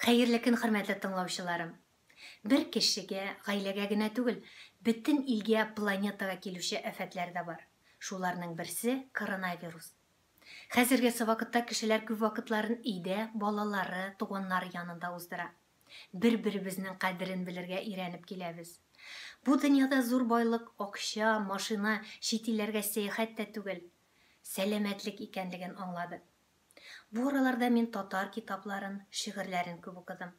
Хәерле көн хөрмәтле тыңлаучыларым! Бер кешегә, гаиләгә генә түгел, бөтен илгә, планетага килүче афәтләр дә бар. Шуларның берсе, коронавирус. Хәзергесе вакытта кешеләр күп вакытларын өйдә, балалары, туганнары янында уздыра. Бер-беребезнең кадерен белергә өйрәнеп киләбез. Бу дөньяда зур байлык акча, машина, чит илләргә сәяхәт тә түгел, сәламәтлек икәнлеген аңладык. Бу араларда мин татар китапларын, шигырьләрен күп укыдым.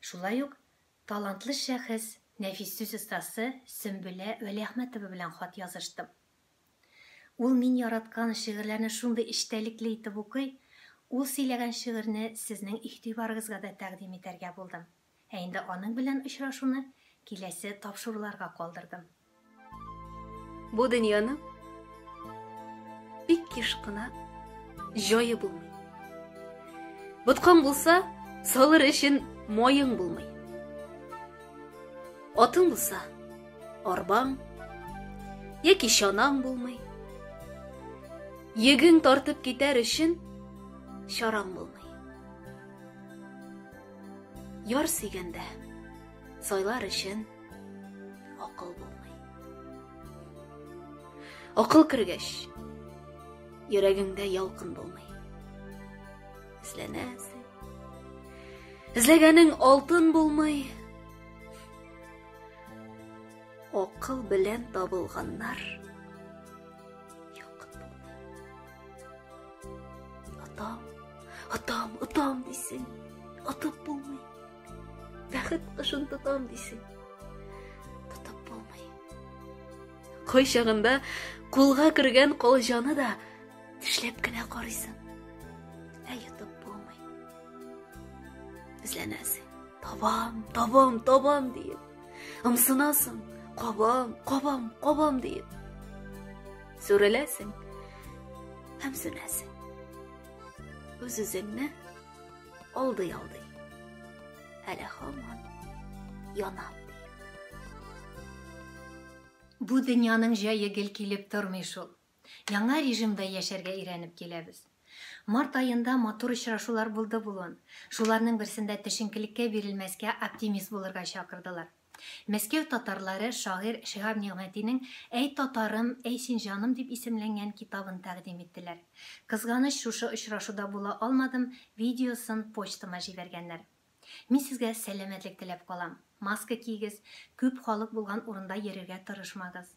Шулай ук талантлы шәхес, нәфис сүз остасы Сөмбелә Вәлиәхмәтова белән хат языштым. Ул мин яраткан шигырьләрне шундый эчтәлекле итеп укый, ул сөйләгән шигырьне сезнең игътибарыгызга да тәкъдим итәргә булдым. Ә инде аның белән очрашуны киләсе тапшыруларга калдырдым. Бу дөньяның бик еш кына җае булмый. Боткаң булса, салыр өчен моең булмый. Атың булса, арбаң яки чанаң булмый. Йөгең тартып китәр өчен чараң булмый. Яр сөйгәндә сайлар өчен акыл булмый. Акыл кергәч, йөрәгеңдә ялкын булмый. Эзләнәсең. Эзләгәнең алтын булмый. Акыл белән табылганнар Атам, атам, атам дисең, атып булмый. Бәхет кышын тотам дисең, тотып булмый. Кой чагында кулга кергән колҗаны да тешләп кенә карыйсың. Ә йотып булмый. Эзләнәсең. Табам, табам, табам диеп. Ымсынасың. Кабам, кабам, кабам диеп. Сүреләсең һәм сүнәсең. Үз-үзеңне алдый-алдый. Әле хаман янам. Бу дөньяның җае гел килеп тормый шул. Яңа режимда яшәргә өйрәнеп киләбез. Март аенда матур очрашулар булды булуын, шуларның берсендә тешенкелеккә бирелмәскә оптимист булырга чакырдылар. Мәскәү татарлары шагыйрь Шиһаб Нигъмәтинең Әй татарым, әй син җаным дип исемләнгән китабын тәкъдим иттеләр. Кызганыч, шушы очрашуда була алмадым, видеосын почтама җибәргәннәр. Мин сезгә сәламәтлек теләп калам. Маска киегез, күп халык булган урында йөрергә тырышмагыз.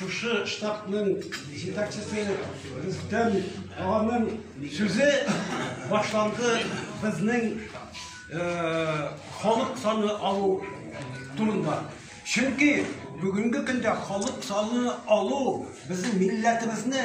Шушы штабның җитәкчесе Рөстәм аганың сүзе башланды безнең халык саны алу турында. Чөнки бүгенге көндә халык саны алу безнең милләтебезне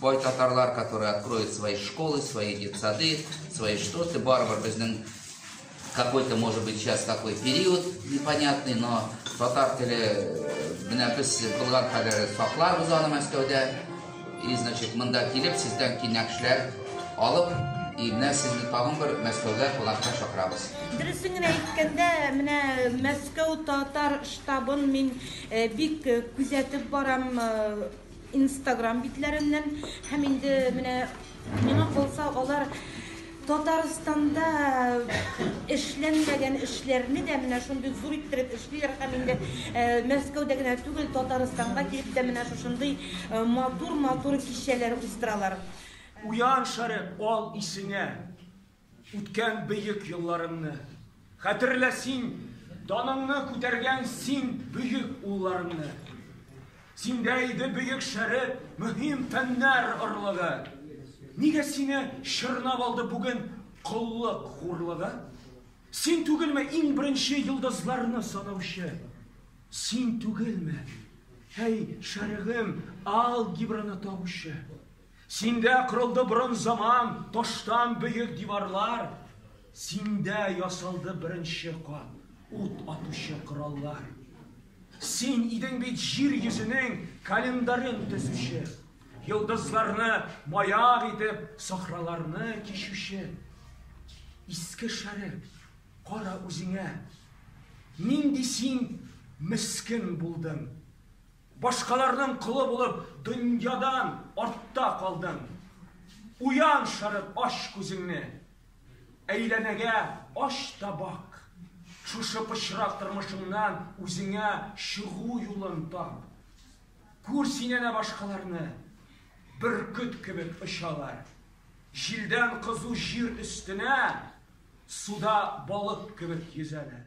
Бай татарлар, которые откроют свои школы, свои детсады, свои что-то, барбар безнең какой-то, может быть, сейчас такой период непонятный, но татар теле менә без булган кадәр сакларбыз аны Мәскәүдә. И, значит, монда килеп, сездән кинәкшләр алып, и менә сезне тагын бер Мәскәүгә кунакка чакырабыз. Дөресен генә әйткәндә, менә Мәскәү татар штабын мин бик күзәтеп барам. Инстаграм битләреннән һәм инде менә миңа калса алар Татарстанда эшләнмәгән эшләрне дә менә шундый зур иттереп эшлиләр һәм инде Мәскәүдә генә түгел Татарстанга килеп тә менә шушындый матур-матур кичәләр уздыралар. Уян, Шәрык, ал исеңә! Үткән бөек елларымны Хәтерлә син, даныңны күтәргән син бөек улларымны. Синдә иде бөек шәреп, мөһим фәннәр орлыгы. Нигә сине чорнап алды бүген коллык хурлыгы? Син түгелме иң беренче йолдызларны санаучы? Син түгелме, әй, шәрыгым, алгебраны табучы? Синдә кырылды борын заман, таштан бөек диварлар. Синдә ясалды беренче кат, ут атучы кораллар. Син идең бит җир йөзенең календарен төзүче, йолдызларны маяк итеп, сахраларны кичүче. Иске шәрек, кара үзеңә, нинди син мескен булдың. Башкаларның колы булып, дөньядан артта калдың. Уян, Шәрык, ач күзеңне. Әйләнәгә ач та бак. Шушы пычрак тормышыңнан үзеңә чыгу юлын тап. Күр син әнә башкаларны. Бөркет кебек очалар. Җилдән кызу җир өстенә, суда балык кебек йөзәләр.